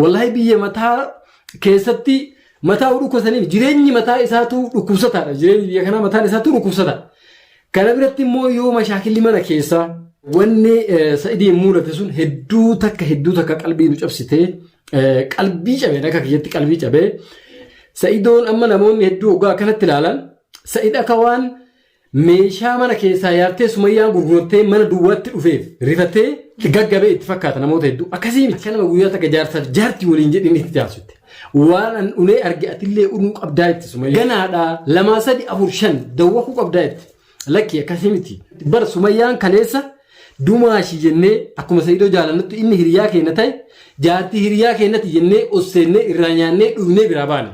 Wallahi biyya mataa keessatti mataa dhukkubsaniif jireenyi mataa isaatu dhukkubsataadha. Jireenyi biyya kanaa mataan isaatu dhukkubsata. Kana biratti immoo yoo mashaakilli mana keessaa wanni sa'idiin mul'ate sun hedduu takka hedduu takka qalbii nu cabsitee qalbii cabee akka kiyyatti qalbii cabee sa'idoon amma namoonni hedduu oggaa akkanatti ilaalan sa'id akka waan Meeshaa mana keessaa yaabtee Sumayyaan gurgurtee mana duwwaatti dhufeef rifatee gaggabee itti fakkaata namoota hedduu. Akkasii miti kanuma guyyaa takka jaarsaaf jaartii waliin jedhin itti taasifte. Waan an unee arge atillee unuu qabdaa itti Sumayyaa. Ganaadhaa lamaa sadi afur shan dawwakuu qabdaa itti. Lakkii akkasii miti. Bara Sumayyaan kaleessa dumaashii jennee akkuma Sa'idoo jaalannutti inni hiriyaa keenya ta'e jaartii hiriyaa keenyati jennee osseennee irraa nyaannee dhugnee biraa baane.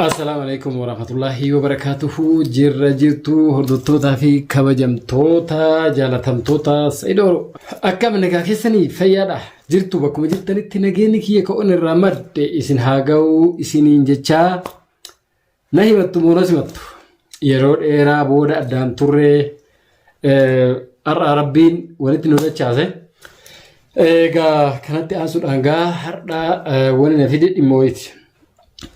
Assalaamu alaikum warahmatullahi wabarakatuhu jirra jirtu hordottootaa fi kabajamtoota jaalatamtoota Saidoo akkam nagaa keessanii fayyaadha jirtu bakkuma jirtanitti nageenyi kiyya ka'oon irraa madde isin haa ga'u isiniin jechaa Na himattu moo na simattu? Yeroo dheeraa booda addaan turree har'aa rabbiin walitti nu dachaase. Egaa kanatti aansuudhaan gaa har'aa wani na fide dhimma wayiiti.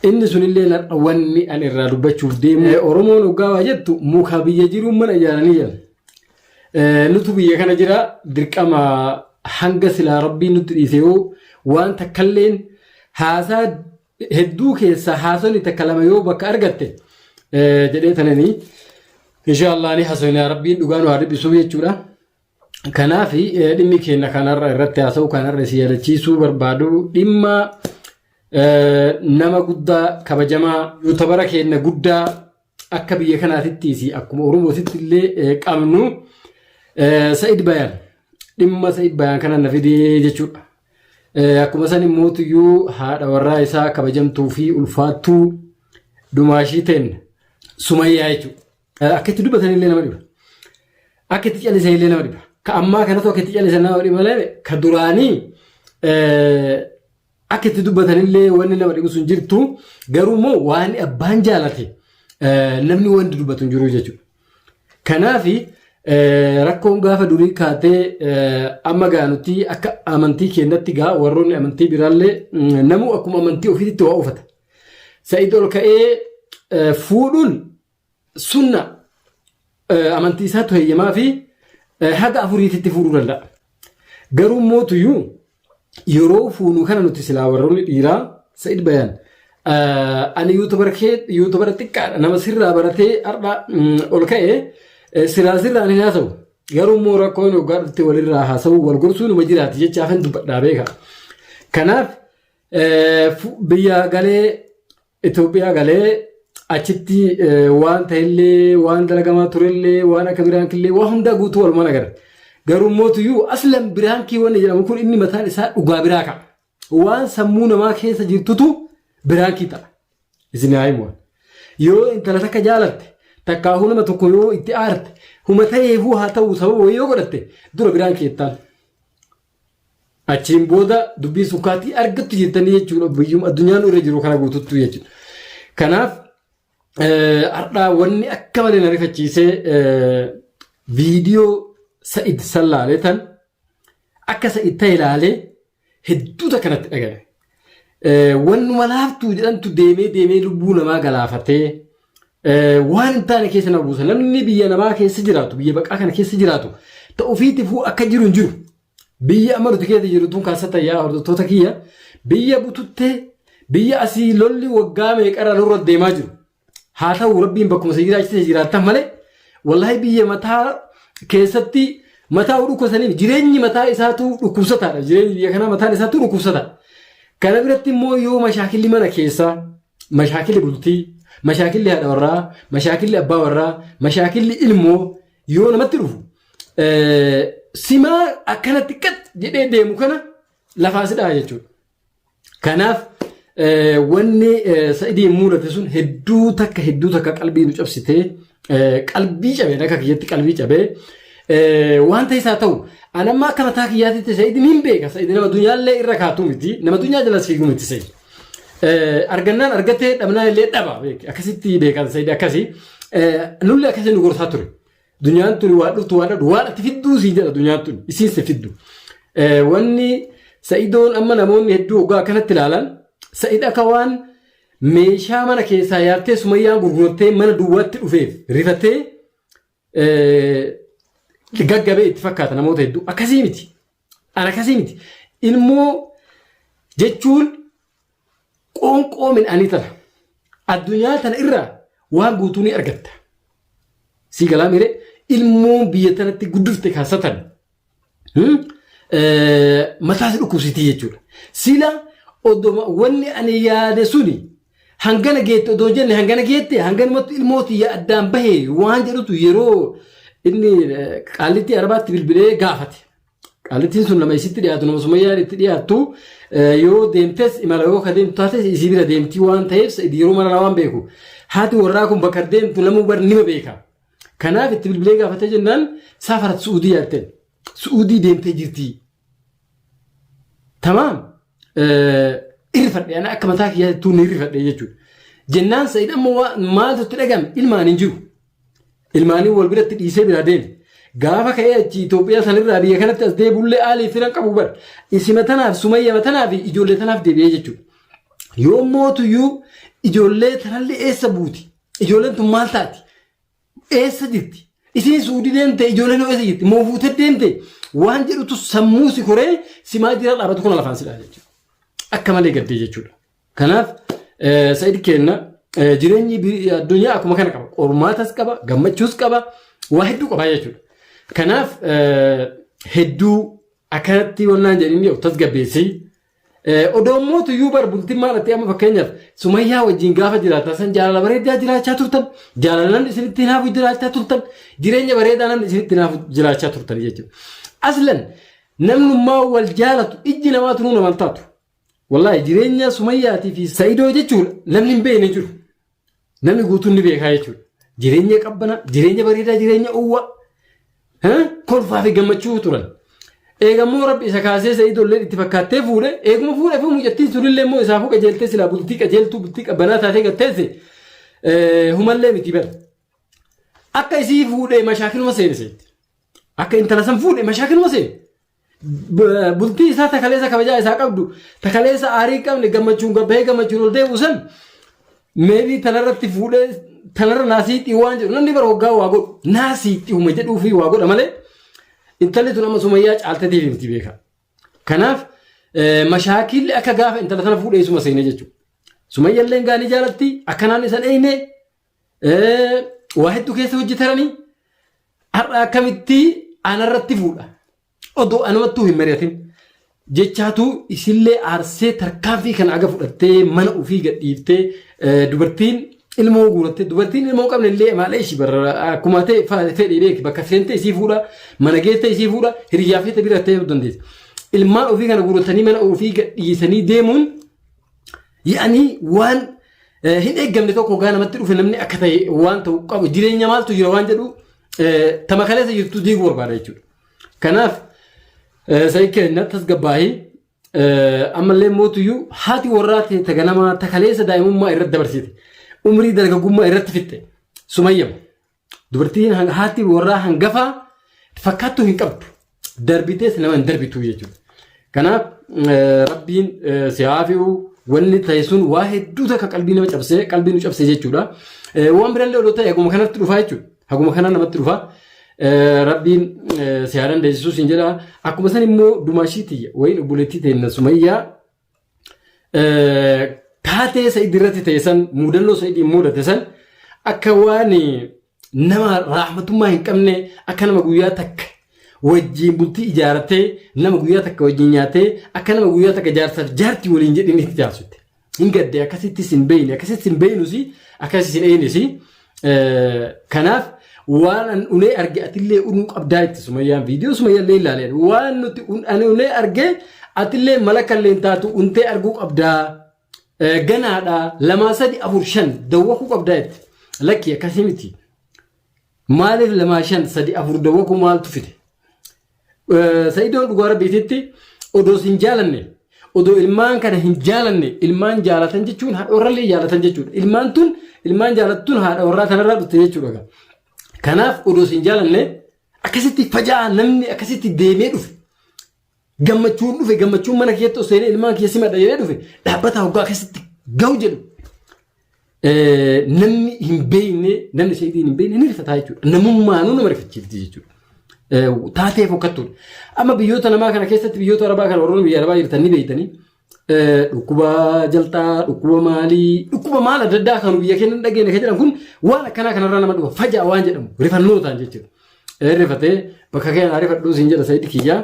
Inni sunillee har'a wanni ani irraa dubbachuuf deemu. Oromoon hoggaa waa jettu muka biyya jiruun mana ijaaranii jedhan. Nutu biyya kana jira dirqama hanga silaa rabbiin nutti dhiisee hoo waan takkalleen haasaa hedduu keessaa haasofni takka lama yoo bakka argatte jedhee tananii inshaallah ni haasofnaa rabbiin dhugaa nu haa dhiphisuuf jechuudha. Kanaaf dhimmi keenya kanarra irratti haasa'u kanarra si yaadachiisuu barbaadu dhimma nama guddaa kabajamaa yuutabara keenya guddaa akka biyya kanaatitti fi akkuma Oromootitti illee qabnu Sa'id Bayaan dhimma Sa'id Bayaan kana na fidee jechuudha. Akkuma san immoo tuyyuu haadha warraa isaa kabajamtuu fi ulfaattuu dumaashii ta'een sumayyaa jechuudha. Akka itti dubbatan illee nama dhiba. Akka itti callisan illee nama dhiba. Ka ammaa kanatu akka itti callisan nama dhiba malee ka duraanii Akka itti dubbatanillee wanni nama dhibu sun jirtu garuu immoo waan abbaan jaalate eh, namni wanti dubbatu hin jiru jechuudha. Kanaaf rakkoon gaafa durii kaatee eh, amma gaa nuti akka amantii keenyatti gaa warroonni amantii biraallee mm, namuu akkuma amantii ofiitti waa uffata. Sa'id ol ka'ee eh, fuudhuun sunna eh, amantii isaatu heeyyamaa fi eh, haga afuriititti fuudhuu danda'a. Garuu mootuyyuu yeroo fuunu kana nuti silaa warroonni dhiiraa Sa'id Bayaan eh, ani yuutubara kee yuutubara xiqqaadha nama sirraa baratee har'a mm, ol ka'e eh, silaa sirraan hin haasa'u. Garuu immoo rakkoon hoggaa dhufte walirraa haasa'u wal gorsuu numa jiraati jechaa kan dubbadhaa beeka. Kanaaf eh, fu- biyya galee Itoophiyaa galee achitti waan ta'ellee waan dalagamaa turellee waan akka biraankillee waan hundaa guutuu walumaan agarre. Garuu mootuyyuu aslan biraankii wanni jedhamu kun inni mataan isaa dhugaa biraa ka'a. Waan sammuu namaa keessa jirtutu biraankii ta'a. Isin haa himu. Yoo intala takka jaalatte takkaahuu nama tokko yoo itti aarte huma ta'eefuu haa ta'u sababa wayii yoo godhatte dura biraankii jettaan. Achiin booda dubbiin sun kaatii argattu jettanii jechuudha biyyuma addunyaa nu irra jiru kana guututtu jechuudha. Kanaaf eh, har'aa wanni akka malee na rifachiisee eh, viidiyoo sa'id sallaalee tan akka sa'id ta'e ilaalee hedduu takka natti dhaga'e. wannuma laaftuu jedhantu deemee deemee lubbuu namaa galaafatee waan hin taane keessa nama buusa. Namni biyya namaa keessa jiraatu, biyya baqaa kana keessa jiraatu ta'u ofiitifuu akka jiru hin jiru. Biyya amma nuti keessa jirtuun kaasata yaa hordoftoota kiyya biyya bututtee biyya asii lolli waggaa meeqarra nurra deemaa jiru. haa ta'u rabbiin bakkuma si jiraachise jiraattan malee wallahi biyya mataa keessatti mataa dhukkubsaniif jireenyi mataa isaatu dhukkubsataadha jireenyi biyya kanaa mataan isaatu dhukkubsata kana biratti immoo yoo mashaakilli mana keessaa mashaakilli bultii mashaakilli haadha warraa mashaakilli abbaa warraa mashaakilli ilmoo yoo namatti dhufu eh, simaa akkanatti qat jedhee deemu kana lafaa sidhaa jechuudha. Kanaaf wanni sa'idiin mudate sun hedduu takka hedduu takka qalbii nu cabsitee qalbii cabeen akka kiyyatti qalbii cabee wanta isaa ta'u an amma akka mataa kiyyaatitti sa'idiin hin beeka sa'idiin nama dunyaallee irra kaatu miti nama dunyaa jala siigu miti sa'idiin. argannaan argatee dhabnaan illee dhaba akkasitti beekan sa'idiin akkasii nullee akkasii nu gorsaa ture. Dunyaan tuni waa dhuftu waa dhabdu waan ati fidduu sii jedha dunyaan tuni isiin si fiddu. Eh, Wanni sa'idoon amma namoonni hedduu hoggaa akkanatti ilaalan sa'id akka waan meeshaa mana keessaa yaartee sumayyaan gurgurtee mana duwwaatti dhufeef rifatee eh, gaggabee itti fakkaata namoota hedduu akkasii miti. An akkasii miti. Ilmoo jechuun qoonqoo midhaanii tana. Addunyaa tana irraa waan guutuu ni argatta. Sii galaa miiree ilmoon biyya tanatti guddifte kan satan hmm? Eh, mataa si dhukkubsitii jechuudha. Sila odoma wanni ani yaade suni Hangana geette odoo jenne hangana geette hanganumatti ilmoo tiyya addaan bahe waan jedhutu yeroo inni eh, qaallittii arabaatti bilbilee gaafate. Qaallittiin sun nama isitti dhiyaatu nama sumayyaan itti dhiyaattu eh, yoo deemtes imala yoo ka deemtu taates isii bira deemtii waan ta'eef sa'id yeroo mara waan beeku. Haati warraa kun bakka deemtu namuu bar nima beeka. Kanaaf itti bilbilee gaafatee jennaan saafarat su'uudii yaadteen. Su'uudii deemtee jirtii. Tamaam. irrifadhe ana akka mataa kiyyaa tuun irrifadhe jechuudha. Jennaan Sa'id amma waa- maaltu itti dhagame ilmaan hin jiru. Ilmaanii wal biratti dhiisee biraa deeme. Gaafa ka'ee achi Itoophiyaa sanirraa biyya kanatti as deebi'ullee haalii filan qabu bar. Isima tanaaf sumayya matanaa fi ijoollee tanaaf deebi'ee jechuudha. Yoo mootuyyuu ijoollee tanallee eessa buuti? Ijoolleen tun maal taati? Eessa jirti? Isin suudi deemte ijoolleen hoo eessa jirti? Moo fuutee deemte? Waan jedhutu sammuu si koree si maal jira dhaabatu kun lafaan si dhaala jechuudha. Akka malee gaddee jechuudha. Kanaaf sa'id keenna jireenyi addunyaa akkuma kana qaba. Qormaatas qaba, gammachuus qaba, waa hedduu qaba jechuudha. Kanaaf hedduu akkanatti wannaan jedhanii of tasgabbeessii Odoo immoo tuyyuu bar bultiin maal ta'e amma fakkeenyaaf sumayyaa wajjin gaafa jiraatan san jaalala bareedaa jiraachaa turtan jaalalan isinitti hinaafu jiraachaa turtan jireenya bareedaanan isinitti hinaafu jiraachaa turtan jechuudha. Aslan namnummaa wal jaalatu ijji namaa tunuu naman taatu. Wallaahi jireenya sumayyaatii fi sa'idoo jechuudha namni hin beekne jiru. Namni guutuun ni beekaa jechuudha. Jireenya qabbana, jireenya bareedaa, jireenya uwwa, kolfaa fi gammachuu turan. Eegammoo rabbi isa kaasee isa idoolleen itti fakkaattee fuudhe, eeguma fuudhee fi mucattiin sunillee immoo isaafuu qajeeltee silaa bultii qajeeltuu bultii qabbanaa taatee gatteesse humallee miti bala. Akka isii fuudhee mashaakiluma seeneseetti. Akka intala san fuudhee mashaakiluma seene. bultii isaa takaleessa kabajaa isaa qabdu takaleessa aarii qabne gammachuun gabbahee gammachuun ol deemu san meebii tanarratti fuudhee tanarra naasii xiwaan jedhu namni bara waggaa waa godhu naasii xiwuma jedhuu fi waa godha malee intalli tun amma sumayyaa caalteetiif himti beeka. Kanaaf mashaakilli akka gaafa intala tana fuudhee suma seene jechuudha. Sumayyallee gaanii jaalatti akkanaan isan eeyne Waa hedduu keessa hojjetaranii har'a akkamitti anarratti fuudha. Odoo anumattuu hin mari'atin. Jechaatu isillee aarsee tarkaanfii kana aga fudhattee mana ofii gadhiiftee dubartiin ilmoo guuratte dubartiin ilmoo qabne illee maalee ishii barra akkuma ta'e fedhii beeki bakka seentee isii fuudha mana geessee isii fuudha hiriyyaa feete bira ta'ee dandeessa. Ilmaan ofii kana guurattanii mana ofii gadhiisanii deemuun Yaanii waan eh, hin eeggamne tokko gaa namatti dhufe namni akka ta'e waan ta'u qabu jireenya maaltu jira waan jedhu eh, tama kaleessa jirtu diiguu barbaada jechuudha. Kanaaf eh, sa'ii keenya tasgabbaa'ee eh, ammallee mootuyyuu haati warraa ta'e ta ganamaa ta kaleessa daa'imummaa irratti dabarsite umrii dargaggummaa irratti fixxe sumayyama. Dubartiin hang- haati warraa hangafaa fakkaattuu hin qabdu. Darbitees nama hin darbitu jechuudha. Kanaaf eh, rabbiin eh, si haa fi'u wanni ta'e sun waa hedduu takka qalbii nama cabsee qalbii nu cabsee jechuudha. Eh, Waan birallee odoo ta'e haguma kanatti dhufaa jechuudha. Haguma kanaa namatti dhufaa. Eh, Rabbiin eh, si haa dandeessisu siin jedha. Akkuma san immoo dumaashii tiyya wayiin obboleettii teenna sumayyaa taatee Sa'id irratti ta'e san muudannoo Sa'id mudate san akka waan nama raaxmatummaa hin qabne akka nama guyyaa takka wajjin bultii ijaarrattee nama guyyaa takka wajjin nyaatee akka nama guyyaa takka jaarsaaf jaartii waliin jedhanii itti taasifte. Hin gaddee akkasittis hin beeyne akkasittis hin beeynusi akkasittis hin eeynusi Kanaaf waan an unee arge atillee unuu qabdaa itti sumayyaan viidiyoo sumayyaallee ilaaleen waan nuti an unee arge atillee mala kalleen taatu untee arguu qabdaa ganaadha lamaa sadi afur shan dawwakuu qabdaa itti lakkii akkasii miti maaliif lamaa shan sadi afur dawwakuu maaltu fide Sa'idoon dhugaa rabbiititti odoo sin jaalanne odoo ilmaan kana hin jaalanne ilmaan jaalatan jechuun haadha warrallee jaalatan jechuudha. Ilmaan tun ilmaan jaalattuun haadha warraa kanarraa dhufte jechuudha. Kanaaf odoo sin jaalanne akkasitti faja'aa namni akkasitti deemee dhufe. Gammachuun dhufe gammachuun mana keessatti osoo ilmaan keessi madda jedhee dhufe dhaabbataa hoggaa akkasitti gahu jedhu. namni hin beekne namni seetiin hin beekne ni rifataa jechuudha. Namummaanuu nama rifachiifti jechuudha. Taatee fokkattuudha. Amma biyyoota namaa kana keessatti biyyoota arabaa kana warroonni biyya arabaa jirtan ni beektanii dhukkuba jalxaa, dhukkuba maalii, dhukkuba maal adda addaa kan biyya keenya hin dhageenye kan jedhan kun waan akkanaa kanarraa nama dhufa fajaa waan jedhamu rifannootaan jechuudha. Rifatee bakka keenyaa rifadhuu siin jedha sa'itti kiyyaa.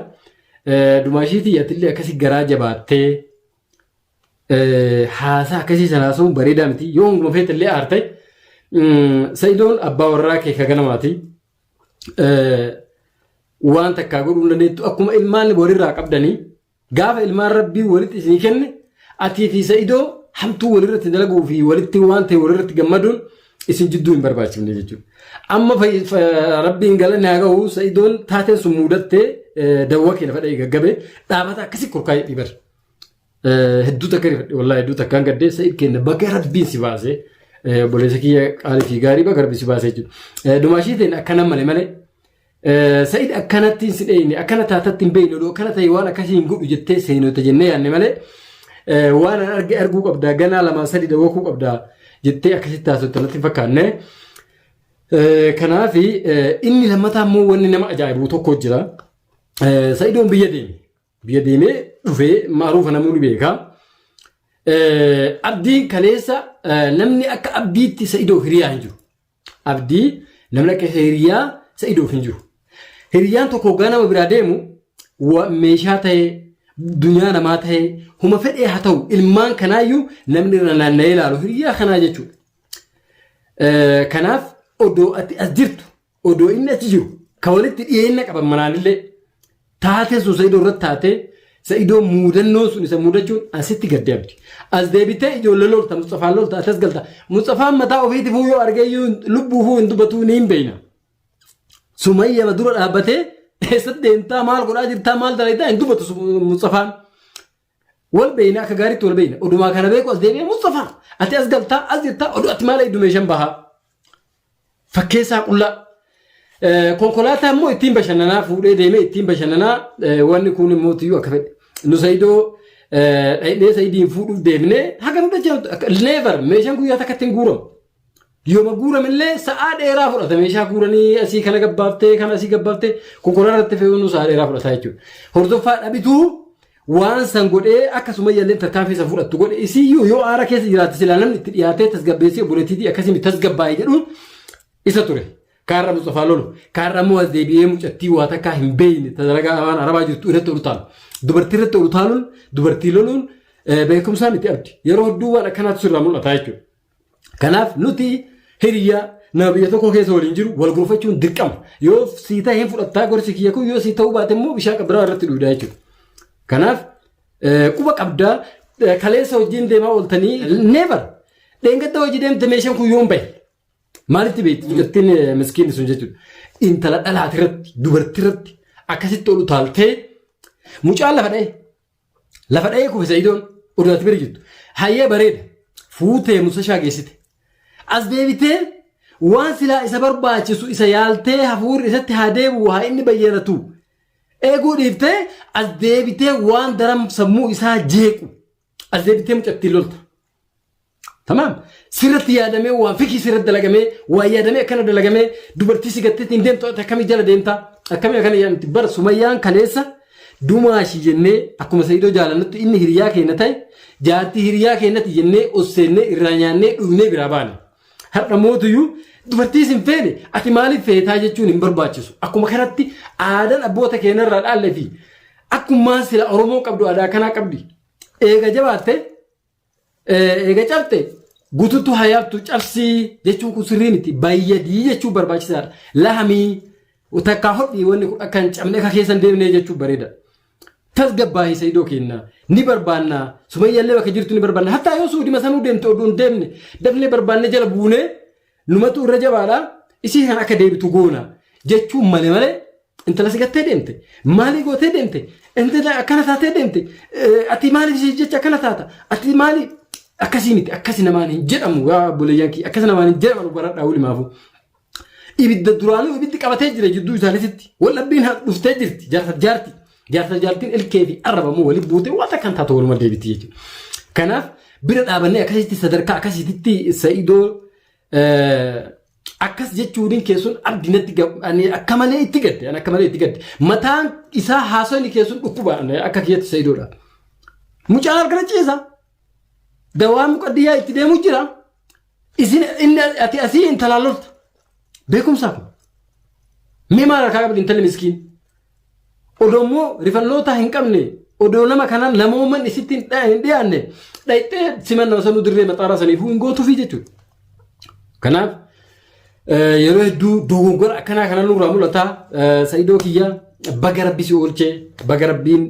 Dumaashii tiyyatillee akkasii garaa jabaattee Haasaa akkasii sana haasa'uun bareedaa miti. Yoo hanguma feete illee aartee Sa'idoon abbaa warraa kee ka ganamaati. Waan takkaa godhuu hin dandeettu akkuma ilmaan walirraa qabdanii gaafa ilmaan rabbii walitti isinii kenne atii fi Sa'idoo hamtuu walirratti dalaguu fi walitti waan ta'e walirratti gammaduun isin jidduu hin barbaachifne jechuudha. Amma rabbiin galanni haa gahu Sa'idoon taateen sun muudattee dawwa kee lafa dha'ee gaggabee dhaabata akkasii kurkaa'ee dhiibara. Hedduu takka rifadhe wallaahi hedduu takkaan gaddee sa'id kenna baga rabbiin si baasee obboleessa kiyya qaalii fi gaarii baga rabbiin si baasee jechuudha. Dumaashii ta'in akkana malee malee sa'id akkanatti hin sidheeyne akkana taatatti hin beeyne oduu akkana ta'e waan akkasii hin godhu jettee seenota jennee yaanne malee waan an arge arguu qabdaa ganaa lamaa sadii dawwakuu qabdaa jettee akkasitti taasifte natti hin fakkaanne. Kanaaf inni lammataa immoo wanni nama ajaa'ibu tokko jira. Sa'idoon biyya deeme. Biyya deemee dhufee maaruufa namuu ni beeka. Abdiin kaleessa namni akka abdiitti sa'idoof hiriyaa hin jiru. Abdii namni akka hiriyaa sa'idoof hin jiru. Hiriyaan tokko hoggaa nama biraa deemu meeshaa ta'ee dunyaa namaa ta'ee huma fedhee haa ta'u ilmaan kanaayyuu namni irra naanna'ee ilaalu hiriyaa kanaa jechuudha. Kanaaf odoo ati as jirtu odoo inni achi jiru ka walitti dhiyeenna qaban manaanillee taatee sun sa'idoo irratti taatee sa'idoo muudannoon sun isa muudachuun asitti gad deebiti. As deebitee ijoollee lolta Musxafaan lolta atas galta. Musxafaan mataa ofiitifuu yoo argee iyyuu lubbuufuu hin dubbatuu ni hin beeyna. Sumayyama dura dhaabbatee eessatti deemtaa maal godhaa jirtaa maal dalagdaa hin dubbatu Musxafaan. Wal beeyna akka gaariitti wal beeyna. Odumaa kana beeku as deebi'ee Mustafaa ati as galtaa as jirtaa oduu ati maal eegdu meeshaan bahaa. Fakkeessaa qullaa. Eh, Konkolaataa immoo ittiin bashannanaa fuudhee deemee ittiin bashannanaa eh, wanni kun immoo tiyyuu akka fedhe. Nu Saidoo eh, dhaqnee Saidiin fuudhuuf deemnee haga nu dhachaa never meeshaan guyyaa takkatti hin guuramu. Yooma guuramellee sa'aa dheeraa fudhata meeshaa guuranii asii kana gabbaaftee kana asii gabbaaftee kokoraa irratti fe'uun sa'aa dheeraa fudhata jechuudha. Hordoffaa dhabituu waan san godhee akka sumayyaallee tarkaanfii san fudhattu godhe isiyyuu yoo aara keessa jiraatte silaa namni itti dhiyaatee tasgabbeessee obboleettiitii akkasii tasgabbaa'e jedhuun isa ture. Kaarra Mustafaa lolu kaarra immoo as deebi'ee mucattii waa takkaa hin beekne dalagaa waan arabaa jirtu irratti ol utaalu. Dubartii irratti ol utaaluun dubartii loluun beekumsaa miti abdi. Yeroo hedduu waan akkanaatu sirraa mul'ata jechuudha. Kanaaf nuti hiriyaa nama biyya tokko keessa waliin jiru wal gorfachuun dirqama. Yoo sii ta'e hin fudhattaa gorsi kiyya kun yoo sii ta'uu baate immoo bishaan qabbiraa irratti dhuudaa jechuudha. Kanaaf eh, quba qabdaa eh, kaleessa hojiin deemaa ooltanii never dheengadda hojii deemte meeshaan kun yoon bahe maalitti beekti mucattiin eh, miskiinni sun jechuudha. Intala dhalaati irratti dubartii irratti akkasitti ol utaaltee mucaan lafa dha'e Lafa dha'ee kufe Sa'idoon oduu ati bira jirtu. Hayyee bareeda. Fuutee musashaa geessite. As deebitee waan silaa isa barbaachisu isa yaaltee hafuurri isatti haa deebi'u haa inni bayyanatu. Eeguu dhiiftee as deebitee waan daran sammuu isaa jeequ. As deebitee mucattiin lolta. Tamaam sirratti yaadamee waan fikii sirratti dalagamee waan yaadamee akkana dalagamee dubartii si gattee ittiin deemtu ati akkamii jala deemta akkamii akkana yaadamti bara sumayyaan kaleessa dumaashii jennee akkuma sayyidoo jaalannutti inni hiriyaa keenya ta'e jaartii hiriyaa keenyatti jennee osseennee irraa nyaannee dhugnee biraa baane. Har'a mootuyyuu dubartii sin feene ati maaliif feetaa jechuun hin barbaachisu akkuma kanatti aadaan abboota keenyarraa dhaalle fi akkumaan sila Oromoo qabdu aadaa kanaa qabdi eega jabaatte Eega cabte gututu hayabtu cabsii jechuun kun sirrii miti bayyadii jechuun barbaachisaadha. Lahamii takkaa hodhii wanni kun akka hin cabne akka keessa hin deemne jechuun bareeda. Tasgabbaahii sayidoo keenna ni barbaanna sumayyaallee bakka jirtu ni barbaanna hattaa yoo suudima sanuu deemte oduu hin deemne dafnee barbaanne jala buunee Numatu irra jabaadha isii kan akka deebitu goona jechuun male male intala si gattee deemte maalii gootee deemte intala akkana taatee deemte ati maaliif isii jecha akkana taata ati maali akkasii miti akkasi namaan hin jedhamu yaa buleeyyan kiyya akkasi namaan hin jedhamu baradhaa wulimaafu. Ibidda duraanuu ibiddi qabatee jira jidduu isaaniitti wal dhabbiin dhuftee jirti jaarsa jaarti Jaarsa jaartiin ilkee fi arraba immoo waliin buutee waan takkaan taatu waluma deebiti jechuudha. Kanaaf bira dhaabannee akkasitti sadarkaa akkasitti sa'idoo akkas jechuun keessun abdi natti ani akka malee itti gadde ani akka malee itti gadde mataan isaa haasawni keessun dhukkuba akka kiyyatti sa'idoodha. Mucaa harkana ciisa. Dawaa muqaddiyyaa itti deemu jira. Isin inni ati asii intalaan lolta. Beekumsaa kun. Mee maal harkaa qabdi intalli miskiin. Odoo immoo rifannootaa hin qabne odoo nama kanaan namooman isitti hin dha- hin dhiyaanne dhayxee siman nama sanuu dirree maxaaraa saniifuu hin gootuufii jechuudha. Kanaaf Yeroo hedduu dogongora akkanaa kana nurraa mul'ata. Sa'idoo kiyya baga rabbi si oolchee baga rabbiin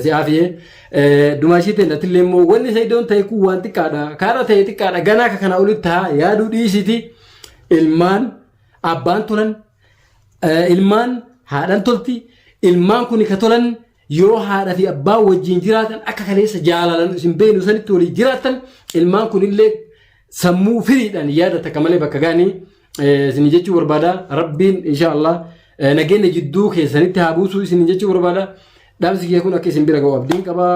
si aafiyee. Dumaashii ta'e natillee immoo wanni sa'idoon ta'e kun waan xiqqaadha. Kaarra ta'e xiqqaadha. Ganaa akka kana olitti haa yaaduu dhiisiti. Ilmaan abbaan tolan ilmaan haadhan tolti ilmaan kun ka tolan Yoo haadha fi abbaan wajjin jiraatan akka kaleessa jaalalan isin beenu sanitti walii jiraatan ilmaan kunillee sammuu firiidhaan yaada takka malee bakka gaanii isin jechuu barbaada rabbiin insha Allah nageenya jidduu keessanitti haa buusuu isin jechuu barbaada dhaamsi kee kun akka isin bira ga'u abdiin qabaa.